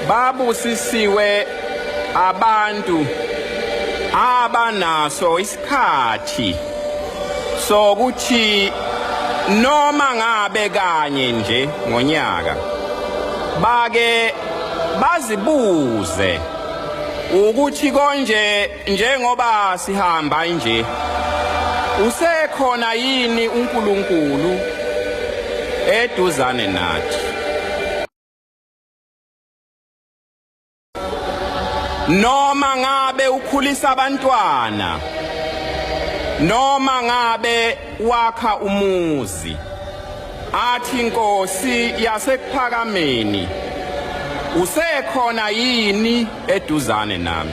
babusisiwe abantu abanaso isikhathi sokuthi noma ngabe kanye nje ngonyaka bake bazibuze ukuthi konje Njengoba sihamba nje usekhona yini uNkulunkulu eduzane nathi? Noma ngabe ukhulisa abantwana noma ngabe wakha umuzi athi inkosi yasekuphakameni usekhona yini eduzane nami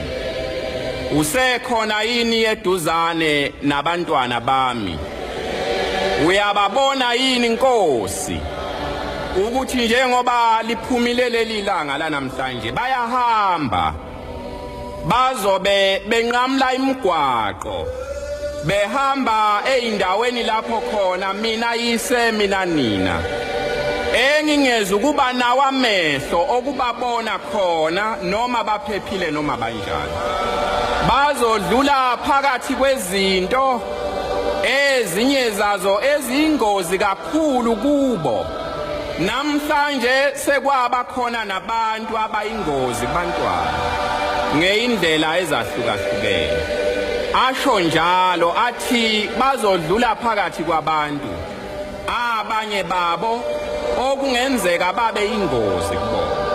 usekhona yini eduzane nabantwana bami uyababona yini inkosi ukuthi njengoba liphumile leli langa lanamhlanje bayahamba bazobe benqamla imigwaqo behamba ezindaweni lapho khona mina yise mina nina engingeza ukuba nawo amehlo okubabona khona noma baphephile noma banjani bazodlula phakathi kwezinto ezinye zazo ezingozi kakhulu Kulu kubo namhlanje sekwaba khona nabantu abayingozi bantwana ngeindlela ezahlukahlukene asho njalo athi bazodlula phakathi kwabantu abanye babo okungenzeka babe ingozi kubona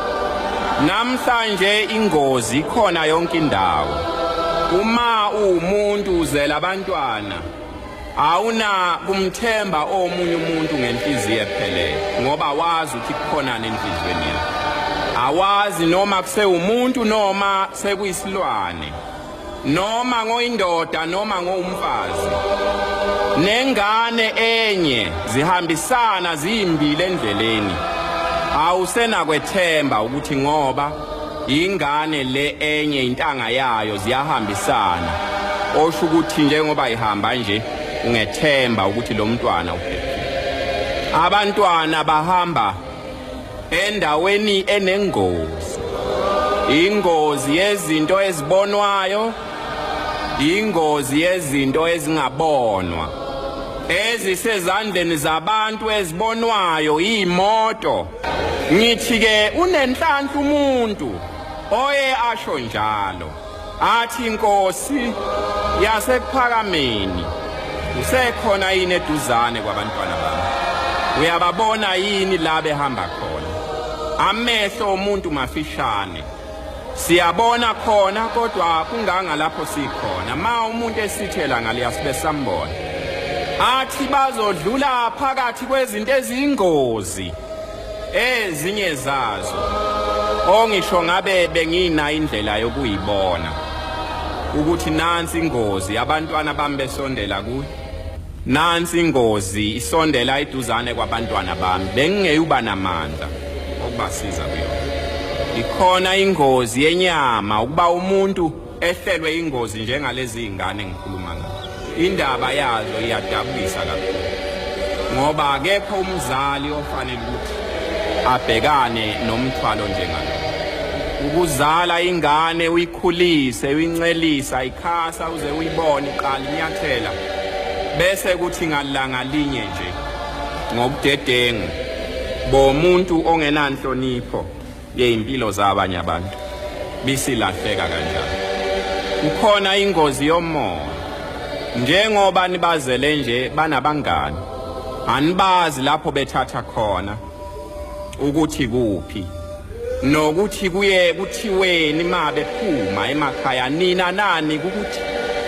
namhlanje ingozi ikhona yonke indawo uma uwumuntu uzela abantwana Awuna kumthemba omunye umuntu ngenhliziyo ephelele ngoba wazi ukuthi kukhonani enhlizweni yakhe. Awazi noma kusewumuntu noma sekuyisilwane. Noma ngoyindoda noma ngowumfazi. Nengane enye zihambisana ziyimbile endleleni. Awusena kwethemba ukuthi ngoba Ingane le enye intanga yayo ziyahambisana. Osho ukuthi njengoba ihamba nje ungethemba ukuthi lo mntwana uphephile. Abantwana bahamba endaweni enengozi. Ingozi yezinto ezibonwayo, ingozi yezinto ezingabonwa. ezisezandleni zabantu ezibonwayo iy'moto Ngithi ke unenhlanhla umuntu oye asho njalo athi inkosi yasekuphakameni usekhona yini eduzane kwabantwana bami uyababona yini la behamba khona amehlo omuntu mafishane Siyabona khona kodwa kunganga lapho sikhona. Ma umuntu esithela ngale asibe sambona. Athi bazodlula phakathi kwezinto eziyingozi ezinye zazo. Ongisho ngabe bengina indlela yokuyibona ukuthi nansi ingozi abantwana bami besondela kuyo. Nansi ingozi isondela iduzane kwabantwana bami bengingeyuba namandla okubasiza kuyona. Ikhona ingozi yenyama ukuba umuntu ehlelwe ingozi njengalezi ingane ngikhuluma ngazo. Indaba yazo iyadabukisa kakhulu. Ngoba akekho umzali ofanele ukuthi abhekane nomthwalo njengalo. Ukuzala ingane uyikhulise uyincelisa ikhasa uze uyibone iqala inyathela bese kuthi ngalanga linye nje ngobudedengu bomuntu ongenanhlonipho yezimpilo zabanye abantu bisilahleka kanjalo ukhona ingozi yomoya njengoba nibazele nje banabangani anibazi lapho bethatha khona ukuthi kuphi nokuthi kuye kuthiweni mabe phuma emakhaya nina nani ukuthi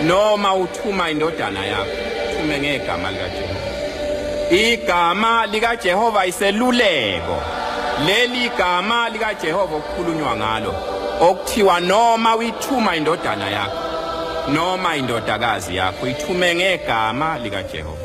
noma uthuma indodana yakho thume ngegama likaJehova igama likaJehova iseluleko leli gama likaJehova okukhulunywa ngalo okuthiwa noma uyithuma indodana yakho noma indodakazi yakho ithume ngegama likaJehova